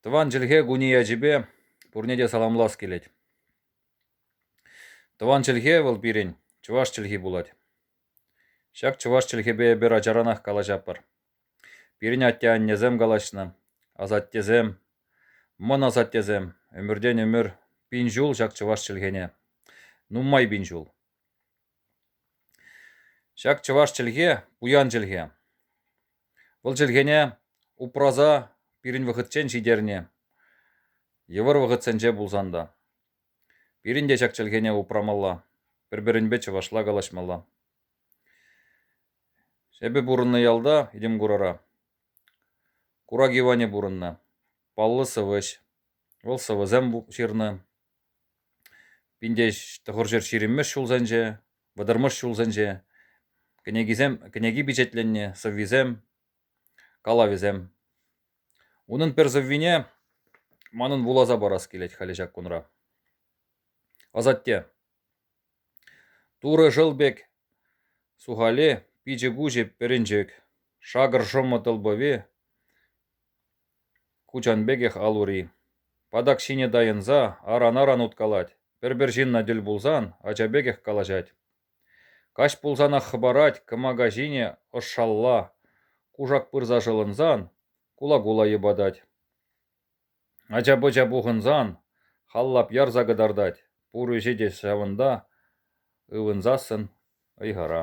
Тӑван чӗлхе кунӗ ячӗпе пурне те саламлас килет. Тӑван чӗлхе вӑл пирӗн чӑваш чӗлхи пулать. Ҫак чӑваш чӗлхепе эпир ачаранах калаҫатпӑр. Пирӗн атте-аннесем калаҫнӑ, асаттесем, мӑн асаттесем, ӗмӗртен ӗмӗр пин ҫул ҫак чӑваш чӗлхене, нумай пин ҫул. Ҫак чӑваш чӗлхе пуян чӗлхе. Вӑл чӗлхене упраса пирӗн вӑхӑтчен ҫитернӗ. Йывӑр вӑхӑтсенче пулсан та. Пирӗн те ҫак чӗлхене упрамалла, пӗр-пӗринпе чӑвашла калаҫмалла. Эпӗ пурӑннӑ ялта, Идӗмкурара. Курак Иванӗ пурӑннӑ. Паллӑ сӑвӑҫ. Вӑл сӑвӑсем ҫырнӑ. Пинтеҫ тӑхӑрҫӗр ҫирӗммӗш ҫулсенче, вӑтӑрмӗш ҫулсенче кӗнекисем, кӗнеки пичетленнӗ сӑввисем, калавӗсем. Унӑн пӗр сӑввине манӑн вуласа парас килет халӗ ҫак кунра. Асатте, Турӑ шӑл пек сухали, пичӗ-пуҫӗ пӗрӗнчӗк, шакӑр шӑмӑ тӑлпӑви, Кучан пекех ал-ури. Патак ҫине тайӑнса аран-аран уткалать, пӗр-пӗр ҫынна тӗл пулсан ача пекех калаҫать. Каҫ пулсанах хӑпарать кӑмака ҫине ӑшшалла, кушак пырса шӑлӑнсан кула-кула йӑпатать. Ача-пӑча пухӑнсан халлап ярса кӑтартать, пур ӗҫе те ҫавӑнта ывӑнсассӑн ыйхӑра.